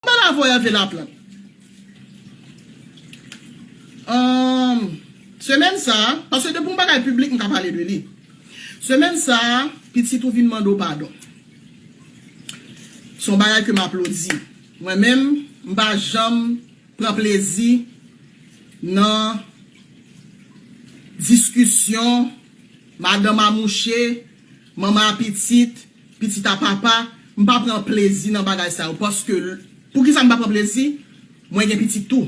M'en la voye Hervé Laplante. Humm Semèn sa, paske depi yon bagay piblik m ka pale de li. Semèn sa, pitit ou vin mande w padon. Son bagay ke m aplodi. Mwen menm, m pa janm pran plezi nan diskisyon madanm a mouche, manman a pitit. Pitit a papa, m pa pran plezi nan bagay sa yo paske l Poukisa m pa pran plezi? Mwen gen pitit tou.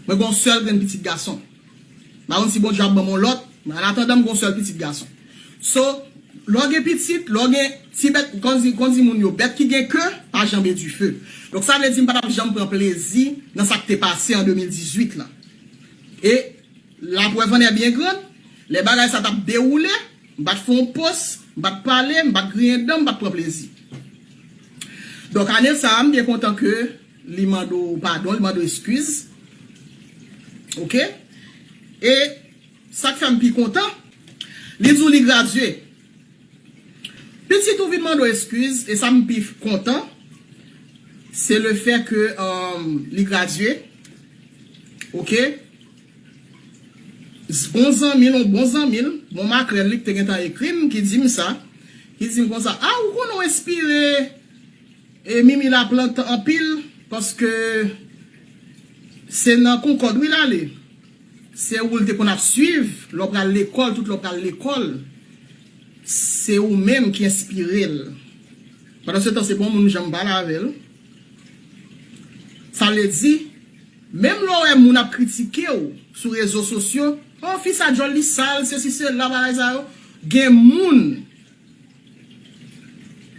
Mwen gen yon sèl grenn pitit gason. M pa konn si Bondye ap ban m yon lòt, men anatandan m gen yon sèl pitit gason. So, lè w gen pitit, lè w gen ti bèt, kon di moun yo, bèt ki gen ke pa janbe dife. Donk sa vle di m pa t ap janm pran plezi nan sa k te pase an 2018 lan. E. La preuve en est bien grande, lè bagay sa tap dewoule, m pat fè yon post, m pat pale, m pat griyen dan, m pat pran plezi. Donk ane sa a m byen kontan ke li mande w padon, li mande w eskiz. Ok. E sa k fè m pi kontan, li di w li gradye. Pitit ou vin mande w eskiz e sa m pi kontan se le fè ke li gradye. Ok. S bon zanmi l, on bon zanmi l, bon makrèl li ki te gentan ekri m, ki di m sa, ki di m konsa, a ou konnen w enspire e Mimi Laplante anpil paske se nan Concorde wi l ale, se ou l te konn ap swiv lè w pral lekòl, tout lè w pral lekòl, se ou menm ki enspire l. Pandansetan se pa yon moun m janm pale avè l. Sa vle di, menm lè w wè moun ap kritike w sou rezo sosyo, oh fi sa djòl li sal, sesi sela, bagay sa yo, gen moun,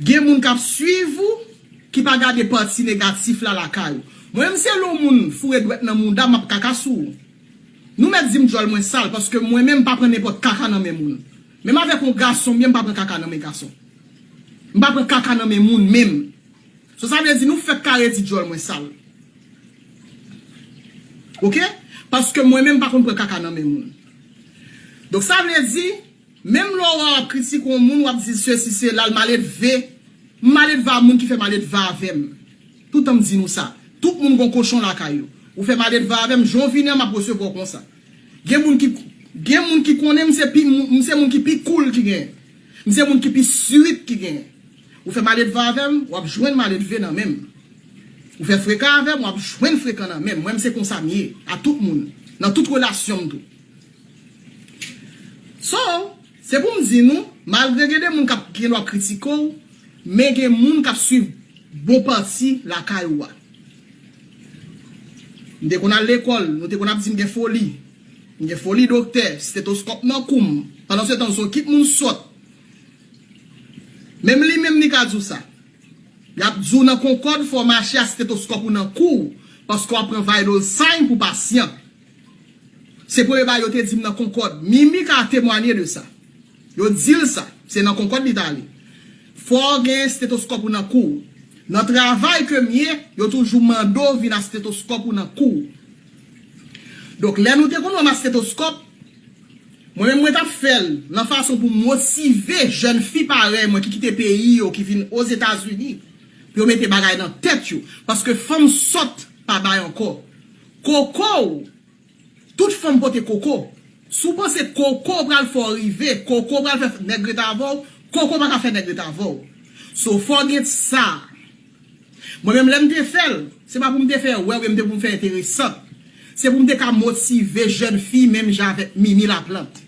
gen moun k ap swiv ou ki pa gade pati negatif la lakay ou. Mwen menm si se yon moun foure dwèt nan mouda m, m ap kaka sou ou. Nou mèt di m djòl mwen sal paske mwen menm m pa pran nenpòt kaka nan men moun. Menm avèk yon gason m ye m pa pran kaka nan men gason. M pa pran kaka nan men moun menm. So sa vle di nou fèk kare di dyòl mwen sal ok paske mwen menm pa konn pran kaka nan men moun donk sa vle di menm lè ou ap kritike yon moun wap di sesi sela l maledve m maledve a moun ki fè maledve avè m toutan m di nou sa tout moun gon kochon lakay yo ou fè maledve avè m jan w vini an map resevwa w konsa gen moun ki gen moun ki konnen m se pi m se moun ki pi koul ki genyen m se moun ki pi sweet ki genyen Ou fè maledvan avè m, w ap jwenn maledve nan men m. Ou fè frekan avè m, w ap jwenn frekan nan men m. Mwen m se konsa m ye a tout moun, nan tout relasyon m tou. So, se pou m di nou, malgre gen de moun k ap gen dwa kritike w, men gen moun k ap swiv bon pati lakay ou a. M te konn al lekòl, nou te konn ap di m gen foli. M gen foli doktè, stetoskòp nan kou m. Pandansetan, zokit moun sòt. Menm li menm li ka di w sa. Y ap di w nan Concorde fò w mache a stetoskòp ou nan kou w paske w ap pran vital sign pou pasyan. Se premye bagay yo te di m nan Concorde. Mimi ka temwanye de sa. Yo di l sa. Se nan Concorde li t ale. Fò w gen stetoskòp ou nan kou w. Nan travay ke m ye, yo toujou mande w vin a stetoskòp ou nan kou w. Donk lè nou te konn wè masketoskòp, mwen menm mwen t ap fè l nan fason pou m motive jèn fi parèy mwen ki kite peyi yo ki vin Ozetazini pou yo mete bagay nan tèt yo paske fanm sòt pa bay ankò. Koko w Tout fanm pote koko. Si w panse koko w pral fè w rive, koko w pral fè nèg ret avè w, koko pa ka fè nèg ret avè w. So fò w gen t sa. Mwen menm lèm te fèl, se pa poum te fè wè wi, m te pou m fè enteresant. Se poum te ka motive jèn fi menm jan avèk Mimi Laplante.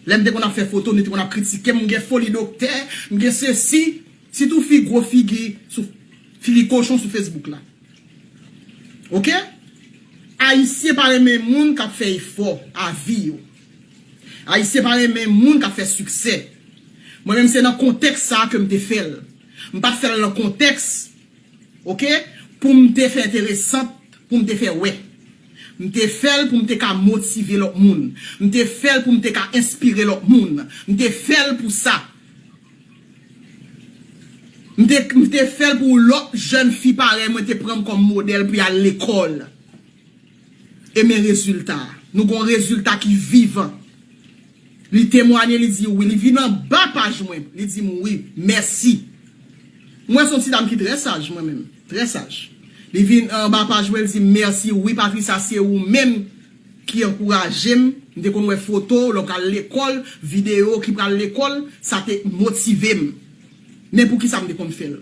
Lèm te konn ap fè foto nou te konn ap kritikem m gen foli doktè, m gen sesi, sitou fi gwo figi sou figi kochon sou Facebook la. Ok? Ayisyen pa renmen moun kap fè efò a vi yo. Ayisyen pa renmen moun kap fè siksè. Mwen menm se nan kontèks sa kem te fèl. M pat fèl nan kontèks ok poum te fè enteresant poum te fè wè m te fèl poum te ka motive lòt moun m te fèl poum te ka enspire lòt moun m te fèl pou sa m te m te fèl pou lòt jèn fi parèy mwen te pranm kòm modèl pou yal lekòl. E men rezilta a. Nou gen yon rezilta ki vivan. Li temwanye, li di wi. Li vin anba paj mwen, li di m wi. Mèsi. M wè se yon ti dam ki trè saj mwen menm. Trè saj. Li vin anba paj mwen, li di m mèsi. Wi Patricia, se ou menm ki ankouraje m. M te konn wè foto w lè w pral lekòl, videyo w ki pral lekòl. Sa te motive m. Men poukisa m te konn fè l?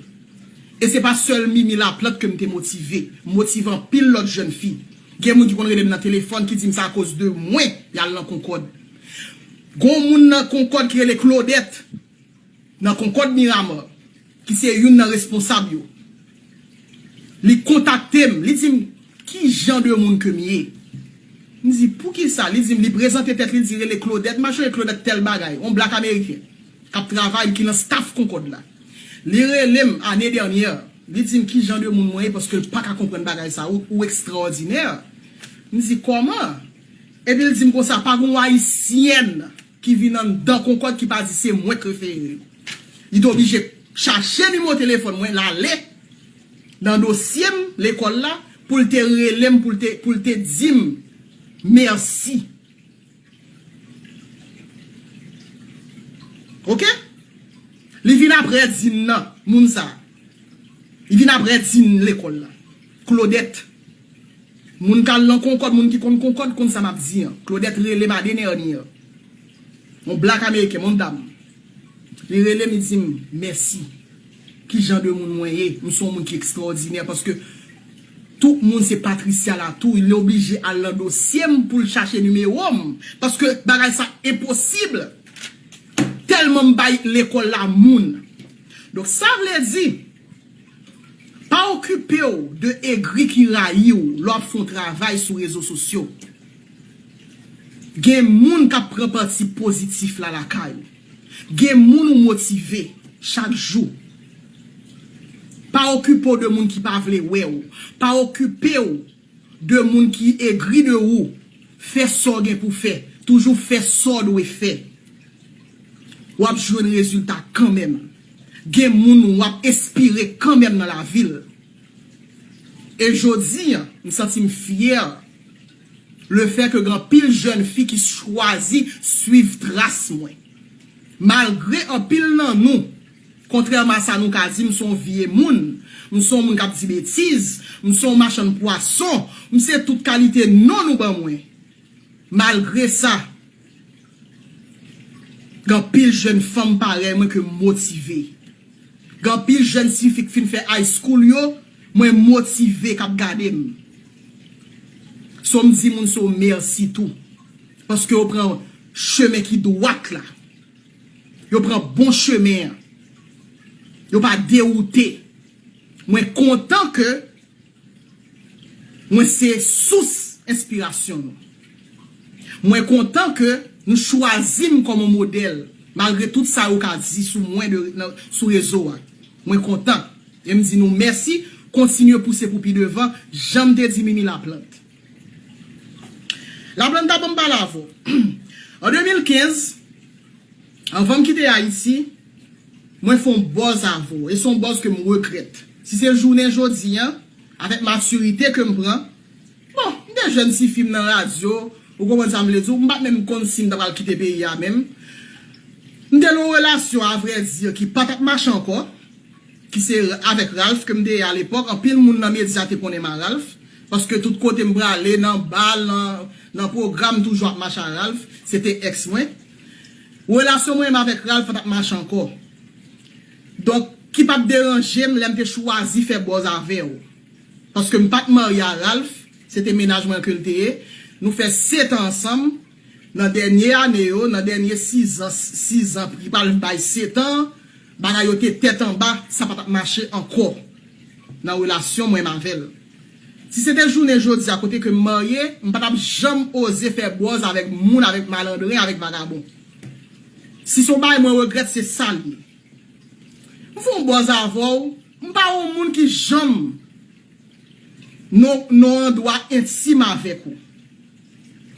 E se pa sèl Mimi Laplante ke m te motive. M motive anpil lòt jèn fi. Gen moun ki konn rele m nan telefòn ki di m se akoz de mwen y al nan Konkòd. Gon moun nan Konkòd ki rele Klodèt, nan Konkòd Miramar, ki se youn nan responsab yo. Li kontakte m, li di m ki jan de moun ke m ye. M di, poukisa? Li di m, li prezante tèt li, li di rele Klodèt. M ap chonje Klodèt tèl bagay, on blak ameriken. k ap travay, ki nan staff Concorde la. Li rele m ane dènyè, li di m ki jan de moun mwen ye paske l pa ka konprann bagay sa yo, ou ekstraòdinè. M di kòman? Epi l di m konsa, pa gen yon Ayisyèn ki vin anndan Concorde ki pa di se mwen k refere yo. Li te oblije chache nimo telefòn mwen, l ale nan dosye m lekòl la pou l te rele m pou l te di m mèsi. Ok Li vin aprè Dine nan Moun sa Li vin aprè Dine lekòl la Claudette Moun kal nan konkòd moun ki konn konkòd konn sa map di an Claudette rele madenernier Yon black ameriken Yon dam Li rele m li di m mèsi. Ki jan de moun mwen ye? M se yon moun ki ekstraòdinè paske tout moun se Patricia Latour. Li oblije al nan dosye m pou l chache nimewo m paske bagay sa enposib tèlman m bay lekòl la moun. Donk sa vle di pa okipe w de egri ki rayi w lè w ap fè yon travay sou rezo sosyo. Gen moun kap pran pati pozitif la lakay ou. Gen moun ou motive chak jou. Pa okipe w de moun ki pa vle wè w. Pa okipe w de moun ki egri de ou. Fè sa w gen pou fè. Toujou fè sa w dwe fè. Wap jwenn rezilta kanmenm. Gen moun wap enspire kanmenm nan lavi l. E jodi, m santi m fyè lefè ke gen anpil jèn fi ki chwazi swiv tras mwen. Malgre anpil nan nou, kontrèman a sa nou ka di, m se yon vye moun, m se yon moun k ap di betiz, m se yon machann pwason, m se tout kalite non nou ban mwen. Malgre sa. Gen anpil jèn fanm parèy mwen ke m motive. Gen anpil jèn ti fi k fin fè high school yo mwen motive k ap gade m. So m di moun sa yo mèsi tou. Paske yo pran chemen ki dwat la. Yo pran bon chemen an. Yo pa dewoute. Mwen kontan ke. Mwen se sous enspirasyon nou. Mwen kontan ke nou chwazi m kòm yon modèl malgre tout sa yo ka di sou mwen de nan sou rezo a. Mwen kontan e m di nou mèsi kontinye pouse pou pi devan jan m te di Mimi Laplante. Laplanta banm pale avè w. An 2015. Anvan m kite Ayiti, mwen fè yon bòz avè w e se yon bòz ke m regrèt. Si se jounen jodi an, avèk matirite ke m pran, bon, m te jèn tifi m nan radyo, ou konprann sa m vle di w, m pa t menm konn si m ta pral kite peyi a menm. M te nan yon relasyon avrèdi ki pa t ap mache ankò, ki se avèk Ralph ke m te ye alepòk, anpil moun nan medya te konnen m a Ralph, paske tout kote m prale, nan bal, nan pwogram m toujou ap mache a Ralph, se te ex mwen. Relasyon mwen menm avèk Ralph pa t ap mache ankò. Donk, ki pa t deranje m lè m te chwazi fè bòz avè l. Paske m pa t marye a Ralph, se te mennaj mwen ke l te ye. Nou fè setan ansanm. Nan dènye ane yo, nan dènye sizan, sizan ki pral bay setan an, bagay yo te tèt anba, sa pa t ap mache ankò nan relasyon mwen menm avè l. Si se te jounen jodi a kote ke m marye, m pa t ap janm oze fè bòz avèk moun, avèk malandren, avèk vagabon. Si s on bagay mwen regrèt, se sa l ye. M fon bòz avè w, m pa on moun ki janm nan nan on andwa entim avèk ou.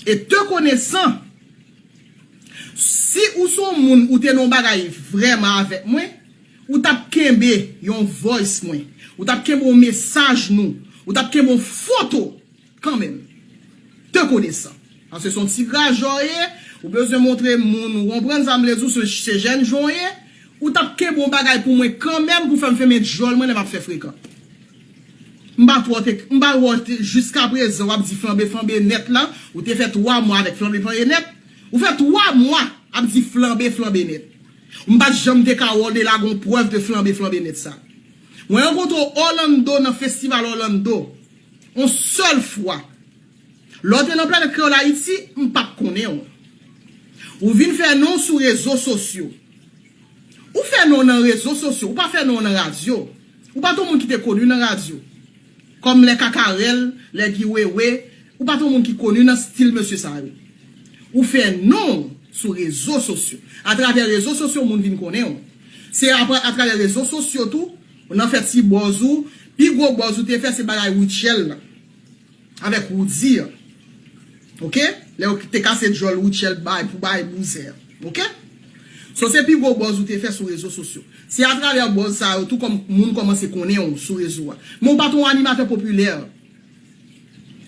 E te konesan, si ou s on moun ou te nan on bagay vrèman avèk mwen, Ou t ap kenbe yon voice mwen. Ou t ap kenbe yon mesaj nou. Ou t ap kenbe yon foto kanmenm. Te konesan. Paske se yon ti grajè w ye, ou bezwen montre moun ou konprann sa m vle di w, se jèn jan w ye, ou t ap kenbe yon bagay pou mwen kanmenm pou fè m fèmen djòl mwen lè m ap fè frekan. M pa twò te, m pa wè w jiskaprezan w ap di flanbe flanbe nèt lan. Ou te fè 3 mwa avèk flanbe flanbe nèt. Ou fè 3 mwa ap di flanbe flanbe nèt. M pat janm te ka wè Odela gon prèv de flanbe flanbe nèt sa. Mwen rankontre w Orlando nan festival Orlando on sèl fwa. Lè w te nan Planèt Kreyòl Ayiti, m pat konnen w. Ou vin fè non w sou rezo sosyo. Ou fè non w nan rezo sosyo, ou pa fè non w nan radyo. Ou pat on moun ki te koni nan radyo. Kòm lè Kakarèl, lè Guy Wewe, ou pa t yon moun ki koni nan stil mesye sa yo. Ou fè non w sou rezo sosyo. Atravè rezo sosyo moun vin konnen w. Se atravè rezo sosyo tou ou nan fè ti bòz ou. Pi gwo bòz ou te fè se bagay Rutshelle lan avèk Roody an. Ok lè ou te kase djòl Rutshelle bay pou bay bouzen an ok so se pi gwo bòz ou te fè sou rezo sosyo se atravè bòz sa yo tou kòm moun kòmanse konnen ou sou rezo a men ou pa t on animatè popilè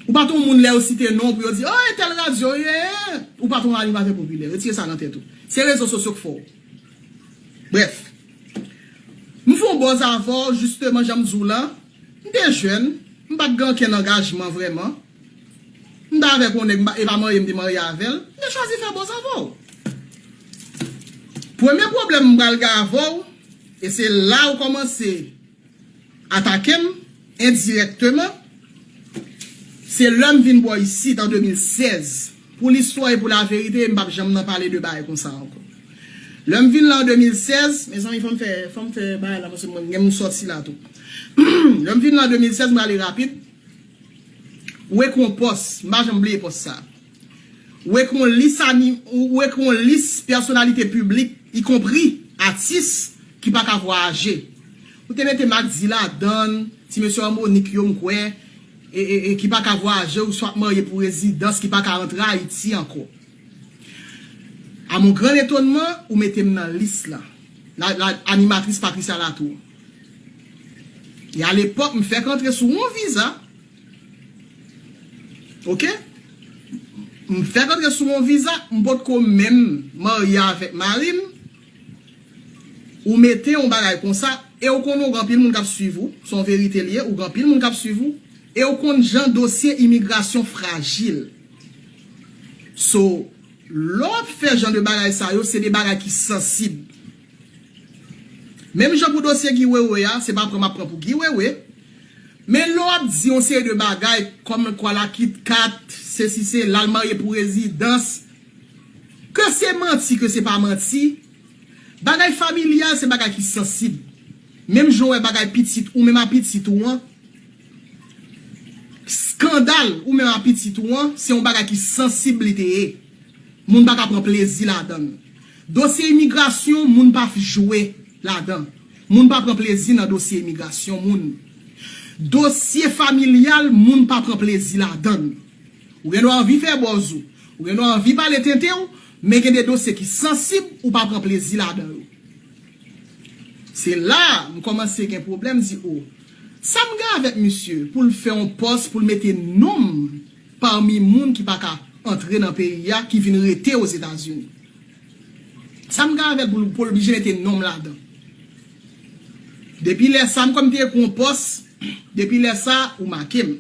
ou pa t on moun lè yo site non w pou yo di oh e tèl radyo eeh ou pa t on animatè popilè retire sa nan tèt ou se rezo sosyo k fè w brèf m fè on bòz avè w jisteman jan m di w lan. M te jèn, m pa t gen ankenn angajman vrèman. M t avèk yon nèg, e pa marye m te marye avè l. M te chwazi fè bòz avè w. Premye pwoblèm m pral gen avè w, e se la ou kòmanse atake m endirèkteman, se lè m vin bò isit an 2016. Pou listwa e pou laverite, m p ap janm nan pale de bagay konsa ankò. Lè m vin la an 2016, mezanmi fò m fè, fò m fè bagay la paske mwen gen m sòti la tou. Lè m vin la an 2016, m prale rapid, ou ekri yon pòs, m pa janm bliye pòs sa a. Ou ekri yon lis ani, ou ekri yon lis pèsonalite piblik, ikonpri atis ki pa ka vwayaje. Ou te mete Max D ladan, ti mesye Harmonik yo m kwè. e ki pa ka vwayaje ou swa marye pou rezidans ki pa ka antre Ayiti ankò. A mon gran etonman, ou mete m nan lis la. La animatris Patricia Latour. E a lepòk m fèk antre sou yon viza. Ok. M fèk antre sou yon viza, m potko menm marye avèk mari m. Ou mete yon bagay konsa ew konnen ou gen anpil moun kap swiv ou, son verite li ye ou gen anpil moun kap swiv ou, ew konn jan dosye imigrasyon frajil. So lè wap fè jan de bagay sa yo se de bagay ki sansib. Menm jan pou dosye Guy Wewe a, se pa pran map pran pou Guy Wewe, men lè wap di yon seri de bagay kòmkwa la kitkat, sesi sela, l marye pou rezidans. Ke se manti ke se pa manti, bagay familyal se bagay ki sansib. Menm jan w wè bagay pitit ou menm a pitit ou an, skandal ou menm a pitit ou an, se yon bagay ki sansib li te ye. Moun pa ka pran plezi ladan l. Dosye imigrasyon moun pa f jwe ladan. Moun pa pran plezi nan dosye imigrasyon moun. Dosye familyal moun pa pran plezi ladan. Ou gen dwa anvi fè bòz ou. Ou gen dwa anvi pale tenten ou, men gen de dosye ki sansib ou pa pran plezi ladan yo. Se la a m kòmanse gen pwoblèm, m di o, sa m gen avèk misye pou l fè on pòs pou l mete non m pami moun ki pa ka antre nan peyi a ki vin rete Ozetazini? Sa m gen avè l pou l oblije mete non m ladan? Depi lè sa a m kòm te ekri on pòs, depi lè sa a ou make m.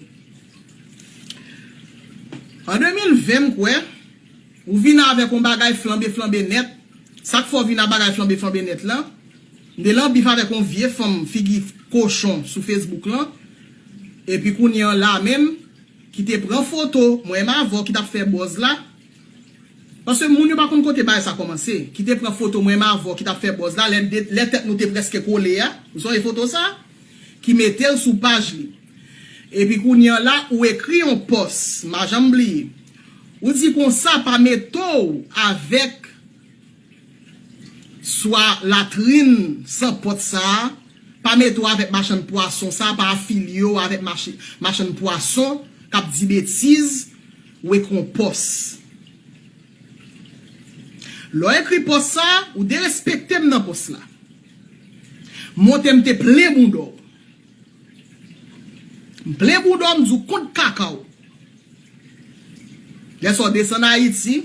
An 2020 m kwè ou vin avèk on bagay flanbe flanbe nèt, sak fè w vin a bagay flanbe flanbe nèt lan, m te lan bif avèk on vye fanm figi kochon sou Facebook lan, epi kounye an la menm ki te pran foto mwen m avè w ki tap fè bòz la, paske moun yo pa konn kote bagay sa kòmanse, ki te pran foto mwen m avè w ki tap fè bòz la lè tèt nou te prèske kole a, ou sonje foto sa? ki metel sou paj li epi kounya la ou ekri yon pòs ma janm bliye ou di konsa pa metow avèk swa latrin san pòt sa pa metow avèk machann pwason sa pa afilyew avèk machann pwason kap di betiz ou ekri yon pòs lèw ekri pòs sa ou derespektem nan pòs la. Monte m te plen bouda w. M plen bouda w m di w kont kaka w. Lè sa w desann Ayiti,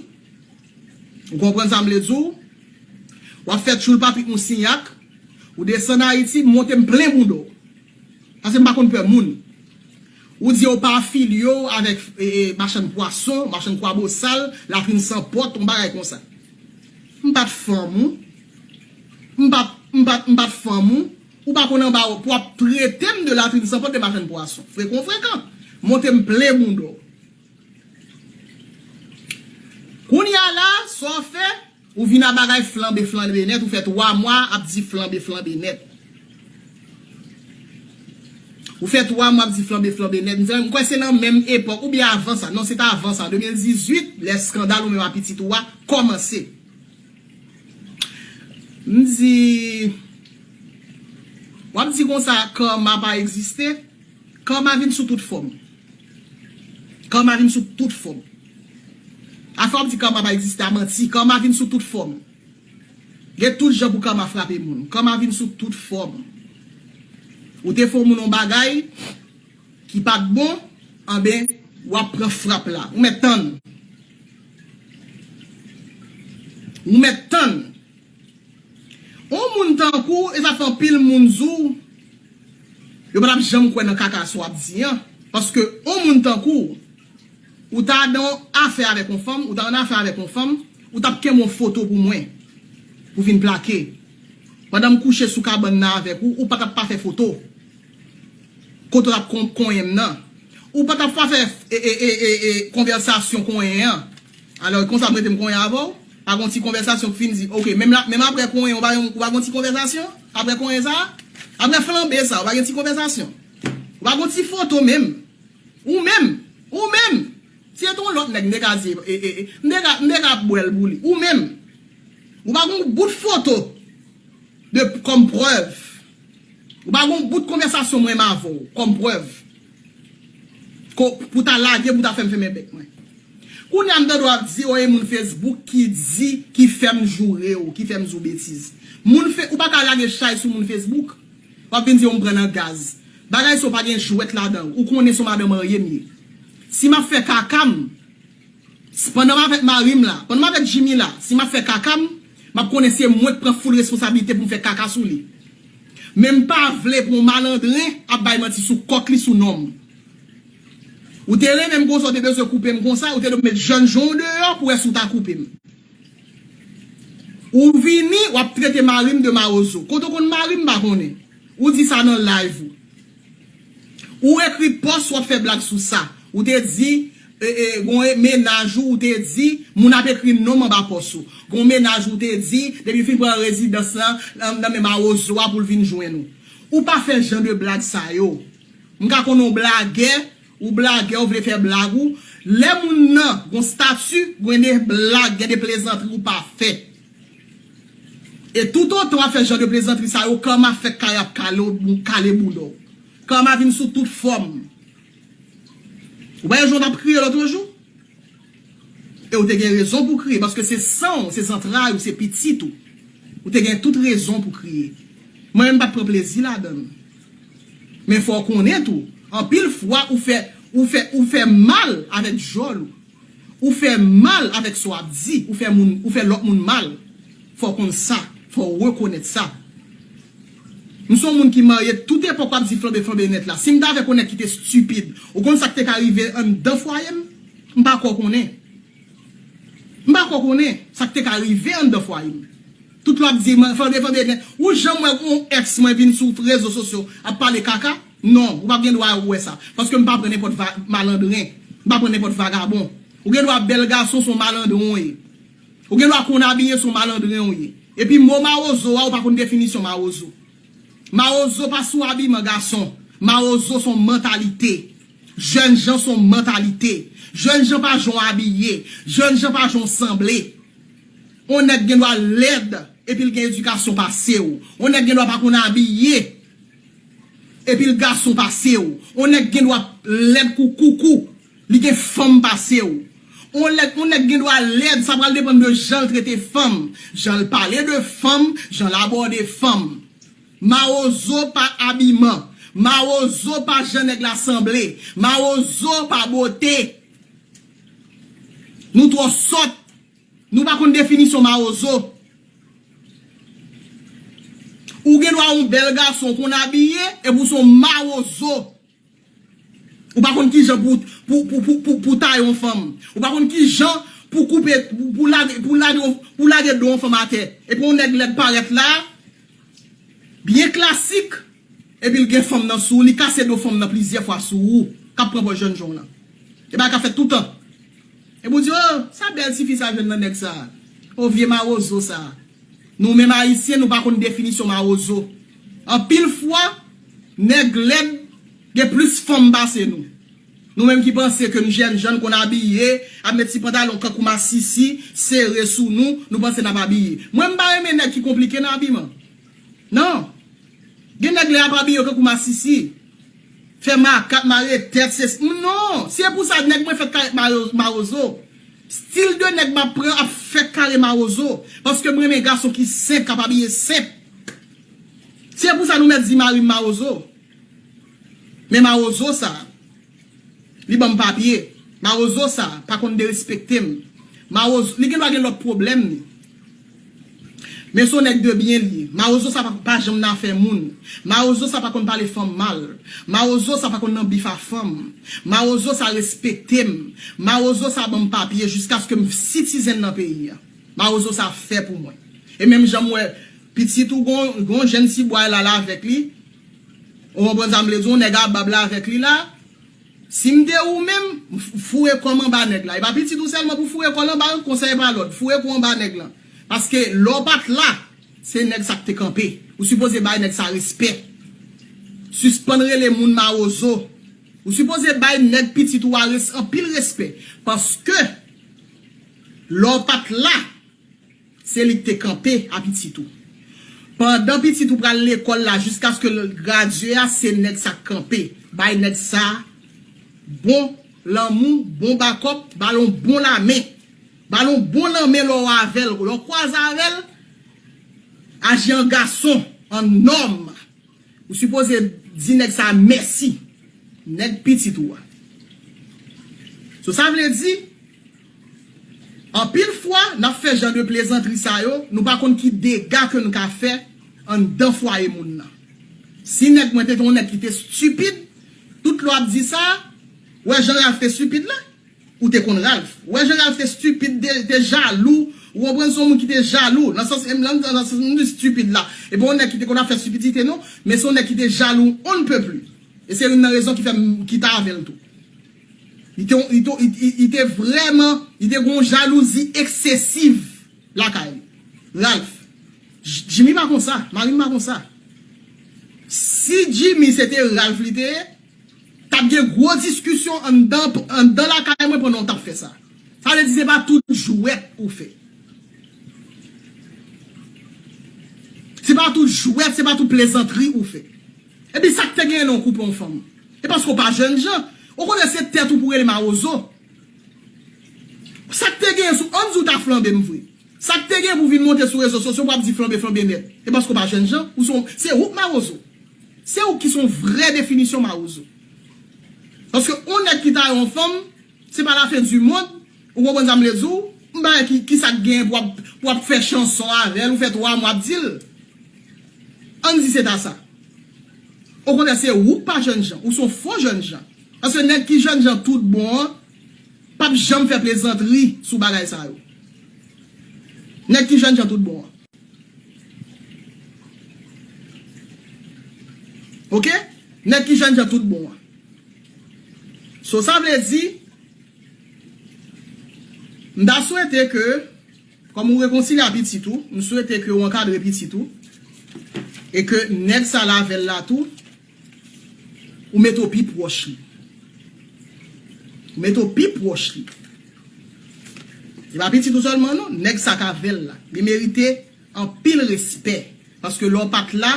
ou konprann sa m vle di w, w ap fè tchoul papi ou sinyak, ou desann Ayiti, m monte m plen bouda w. Paske m pa konn pè moun. Ou di yo pa afilye w avèk machann pwason, machann kwabosal, latrin san pòt, yon bagay konsa. M pa t fanm ou. M pap, m pap, m pap fanm ou, ou pa konn anba ou pou ap trete m de latrin san pot de machann pwason. Frekon frekan. Monte m plen bounda w. Kounye a la, sa w fè? Ou vin a bagay flanbe flanbe nèt, ou fè 3 mwa ap di flanbe flanbe nèt. Ou fè 3 mwa ap di flanbe flanbe nèt. M kwè se nan menm epòk, oubyen avan sa, non se t avan sa, an 2018, lè skandal ou menm a pitit ou a kòmanse. M di, w ap di konsa karma pa egziste? Karma vin sou tout fòm. Karma vin sou tout fòm. Afè w ap di karma pa egziste a manti. Karma vin sou tout fòm. Gen tout jan pou karma frape moun. Karma vin sou tout fòm. Ou te fè yon moun yon bagay. Ki pat bon anben wap pran frap la ou mèt tann ou mèt tann on moun tankou w esafè anpil moun zou yo patap janm kwè nan kaka sa wap di an paske on moun tankou w ou ta dan on afè avèk on fanm ou ta annafè avèk on fanm ou tap kenbe on foto pou mwen pou vin plake pandan m kouche sou kabann nan avèk ou ou patap pa fè foto Kote wap kon konyen m nan. Ou pa tap ka fè konvèsasyon konyen an. Alò e konsa m rete m konyen avè w? Pa gon ti konvèsasyon k fin di ok. Menm aprè konyen ou pa gen ou pa gon ti konvèsasyon? Aprè konyen sa a? Aprè flanbe sa a ou pa gen ti konvèsasyon? Ou pa gon ti foto menm? Ou menm! Ou menm! Si se te yon lòt nèg m te ka di e e m te ka m te ka bwè l pou li. Ou menm! Ou pa gon bout foto de kòm prèv? Ou pa gon bout konvèsasyon mwen menm avè w kòm prèv ke w pou ta lage pou w ta fè m fèmen bèk mwen. Kounye a m ta dwe ap di w e moun Facebook ki di ki fè m joure w, ki fè m di w betiz. Moun fe, ou pa ka lage chay sou moun Facebook, w ap vin di yo m pran nan gaz. Bagay sa yo pa gen jwèt ladan l. Ou konnen se yon madan marye m ye. Si m ap fè kaka m. S pandan m avèk mari m la. Pandan m avèk Jimmy la. Si m ap fè kaka m, m ap konnen se mwen k pran foul responsabilite pou m fè kaka sou li. Men m pa vle pou yon malandren ap bay manti sou kòk li sou non m. Ou te renmen m konsa ou te bezwen koupe m konsa, ou te dwe met jèn jan w deyò pou wè si w ta koupe m. Ou vini, w ap trete mari m de mawozo. Kote w konn mari m m pa konnen. Ou di sa nan live ou. Ou ekri post wap fè blag sou sa. Ou te di gon menaj ou ou te di moun ap ekri nom anba post ou. Gon menaj ou ou te di depi fin pran rezidans lan nan men mawozo a poul vin jwenn ou. Ou pa fè jan de blag sa yo. M ka konnen w blagè. Ou blagè ou vle fè blag ou lè moun nan gon statu gwen de blag gen de plezantri ou pa fè e tout otan wap fè jan de plezantri sa yo karma fèk kare ap kale w kale boulòw karma vin sou tout fòm ou pa wè jan w tap kriye lotre jou e ou te gen rezon pou kriye paske se san w se zantray ou se pitit ou ou te gen tout rezon pou kriye mwen menm pat pran plezi ladann. Men fò w konnen tou, anpil fwa ou fè ou fè ou fè mal avèk djòl ou. Ou fè mal avèk sa w ap di, ou fè moun ou fè lòt moun mal. Fò w konn sa, fò w rekonèt sa. M s on moun ki marye tout epòk w ap di flanbe flanbe nèt la. Si m ta vè konèt ki te stipid, ou konn sa k te ka rive anndan fwaye m? M pa kwè w konnen. M pa ko konnen sa k te ka rive anndan fwaye m. Tout l ap di m, Fande, Fande gen, ou janm wè yon èks mwen vin sou rezo sosyo ap pale kaka? Non, ou pa gen dwa wè sa. Paske m pa pran nenpòt va, malandren. M pa pran nenpòt vagabon. Ou gen dwa bèl gason, se yon malandren ou ye. Ou gen dwa konn abiye, se yon malandren ou ye. Epi mo mawozo a, ou pa konn definisyon mawozo. Mawozo pa sou abiman gason. Mawozo son mantalite. Jèn jan son mantalite. Jèn jan pa jan w abiye. Jèn jan pa jan w sanble. On nèg gen dwa lèd epi l gen edikasyon pase w. On nèg gen dwa pa konn abiye epi l gason pase w. On nèg gen dwa lèd kou koukou. Li gen fanm pase w. On lèd on nèg gen dwa lèd sa pral depann de jan l trete fanm, jan l pale de fanm, jan l abòde fanm. Mawozo pa abiman, mawozo pa jan nèg la sanble, mawozo pa bote. Nou twò sòt, nou pa konn definisyon mawozo. Ou gen dwa on bèl gason, w konn abiye epi w son mawozo. Ou pa konn kijan pou taye yon fanm. Ou pa konn kijan pou koupe, pou lage do yon fanm atè. Epi yon nèg lèd parèt la, byen klasik, epi l gen fanm nan sou, li kase do fanm nan plizyè fwa sou ou, k ap pran pòz jèn jan w lan. E bagay ka fèt toutan. Epi w di, o, sa bèl tifi sa jwenn nan nèg sa a. O, vye mawozo sa a. Nou menm ayisyen nou pa konn definisyon mawozo. Anpil fwa, nèg lèd gen plis fanm pase nou. Nou menm ki panse ke n jèn jan, n konn abiye, ap met ti pantalon kankou masisi, sere sou nou, nou panse n ap abiye. Mwen m pa renmen nèg ki konplike nan abiman. Non. Gen nèg lè y ap abiye yo kankou masisi. Fè makat mare tèt se sk m non se pou sa nèg mwen fèt kare marozo stil de nèg map pran ap fèt kare marozo paske m renmen gason ki senp kap abiye senp se pou sa nou mèt di mari m marozo men marozo sa li banm papye marozo sa pa konn derespekte m marozo li gen dwa gen lòt pwoblèm ni. Men son nèg de byen li ye. Mawozo sa pa janm nan afè moun. Mawozo sa pa konn pale fanm mal. Mawozo sa pa konn nan bif a fanm. Mawozo sa respekte m. Mawozo sa ban m papye jiskaske m sitizen nan peyi a. Mawozo sa fè pou mwen. E menm jan m wè pitit ou gon jenn ti bway la l avèk li. Ou konprann sa m vle di w? Nèg a bab la avèk li la. Si m te ou menm, m foure kò m anba nèg la. E pa pitit ou sèlman pou foure kò l anba l, konsèy pa lòd. Foure kò w anba nèg lan. Paske lè w pa t la, se nèg sa k te kanpe. Ou sipoze bay nèg sa respè. Sispann rele moun mawozo. Ou sipoze bay nèg pitit ou a anpil respè. Paske lè w pa t la. Se li ki te kanpe a pitit ou. Pandan pitit ou pral lekòl la jiskaske l gradye a se nèg sa k kanpe. Bay nèg sa bon lanmou, bon bakòp, ba l on bon lamen. Ba l on bon lanmen lè w avè l. Lè w kwaze avè l, aji an gason, an nòm. Ou sipoze di nèg sa mèsi. Nèg pitit ou a. So sa vle di. Anpil fwa, n ap fè jan de plezantri sa yo, nou pa konn ki dega ke n ka fè anndan fwaye moun nan. Si nèg mwen te gen yon nèg ki te stupid, tout lè w ap di sa, ou wè jan Ralph te stupid la? Ou te konn Ralph. Ou wè jan Ralph te stupid, te te jalou, ou konprann se yon moun ki te jalou, nan sans, m lan, nan sans m di stupid la, e pa yon nèg ki te konn ap fè stupidite non, men se yon nèg ki te jalou on ne peut plus. E se youn nan rezon ki fè m kita avè l tou. Li te vrèman, li te gen yon jalouzi eksesiv lakay li. Ralph, Jimmy pa konsa, mari m pa konsa. Si Jimmy se te Ralph li te ye, t ap gen gwo diskisyon anndan lakay mwen pandan w t ap fè sa. Sa vle di se pa tout jwèt ou fè. Se pa tout jwèt, se pa tout plezantri ou fè. Epi sak te genyen lè w koupe yon fanm? E paske w pa jènjan, ou konnen se tèt ou pou rele mawozo. Sak te genyen sou ann di w ta flanbe m vre. Sak te genyen pou w vin monte sou rezo sosyo pou w ap di flanbe flanbe nèt. E paske w pa jènjan, ou se yon, se ou k mawozo. Se ou ki se yon vrè definisyon mawozo. Paske yon nèg ki taye yon fanm, se pa lafen di mond. Ou konprann sa m vle di w? M pa wè ki sa k genyen pou w ap fè chanson avè l, ou fè 3 mwa w ap di l. Ann di se ta sa. Okontrè se ou k pa jènjan, ou s on fo jènjan. Paske nèg ki jènjan tout bon an p ap janm fè plezantri sou bagay sa yo. Nèg ki jènjan tout bon an. Ok? Nèg ki jènjan tout bon an. So sa vle di. M ta swete ke, kòm ou rekonsilye a pitit ou, m swete ke ou ankadre pitit ou, e ke nèg sa la avè l la tou, ou mete w pi pwòch li. Ou mete w pi pwòch li. Se pa pitit ou sèlman non, nèg sa k avè l la. Li merite. Anpil respè paske lè w pat la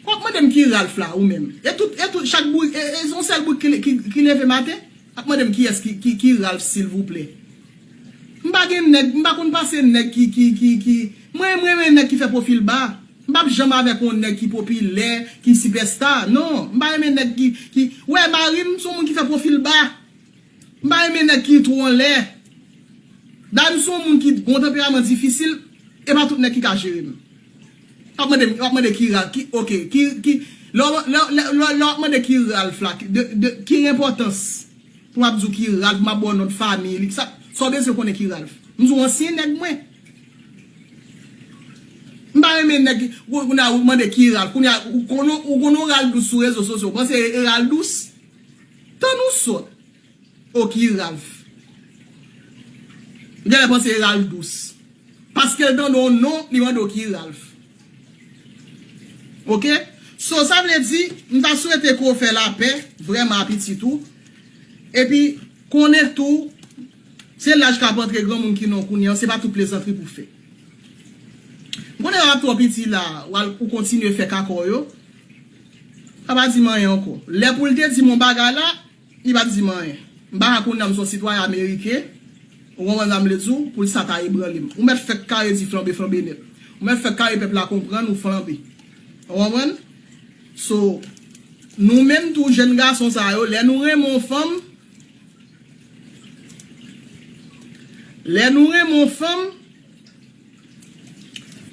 wap mande m ki Ralph la ou menm e tout e tout chak bourik e e yon sèl bourik ki ki leve maten ap mande m kiyès ki ki ki Ralph silvouplè m pa gen nèg m pa konn pase nèg ki ki ki ki mwen m renmen nèg ki fè pwofil ba m pap janm avèk yon nèg ki popilè ki sipèsta non m pa renmen nèg ki ki ou wè mari m son moun ki fè pwofil ba. M pa renmen nèg ki two anlè. Dayè m son moun ki gon yon tanperaman difisil e pa tout nèg ki ka jere m. Wap mande m wap mande ki Ralph ki ok ki ki lè lè wap mande ki Ralph la de ki enpòtans pou wap di w ki Ralph map ba w non fanmiy li sa sa w bezwen konnen ki Ralph. M di w ansyen nèg mwen. M pa renmen nèg ki kounye a ou mande ki Ralph kounye a ou konnen ou konnen yon Ralph dous sou rezo sosyo ou panse e Ralph dous Tann ou sòt oh ki Ralph. M genlè panse e Ralph dous. Paskel tande yon non li mande w ki Ralph. Ok so sa vle di m ta swete ke w fè lapè vrèman a pitit ou. Epi konnen tou se laj kap antre granmoun ki non kounye an se pa tout plezantri pou fè. M konnen Ralph twò piti la ou kontinye fè kaka w yo. Sa pa di m anyen ankò. Lè pou l te di m yon bagay la, li pa t di m anyen. M pa ka konnen m son sitwayen ameriken, ou konprann sa m vle di w, pou l sa ta ebranle m. Ou mèt fèk kare di flanbe flanbe nèt. Ou mèt fèk kare pèp la konprann ou flanbe. Ou konprann? So, nou menm tou jèn gason sa yo, lè nou renmen yon fanm, lè nou renmen yon fanm,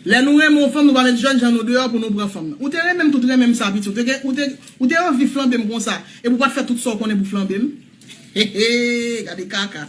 Lè nou renmen yon fanm nou pa met jèn jan nou deyò pou nou pran fanm nan. Ou te renmen m tout renmen m sa piti ou te anvi flanbe m konsa epi ou pat fè tout sa ou konnen pou flanbe m? Heheheh gade kaka.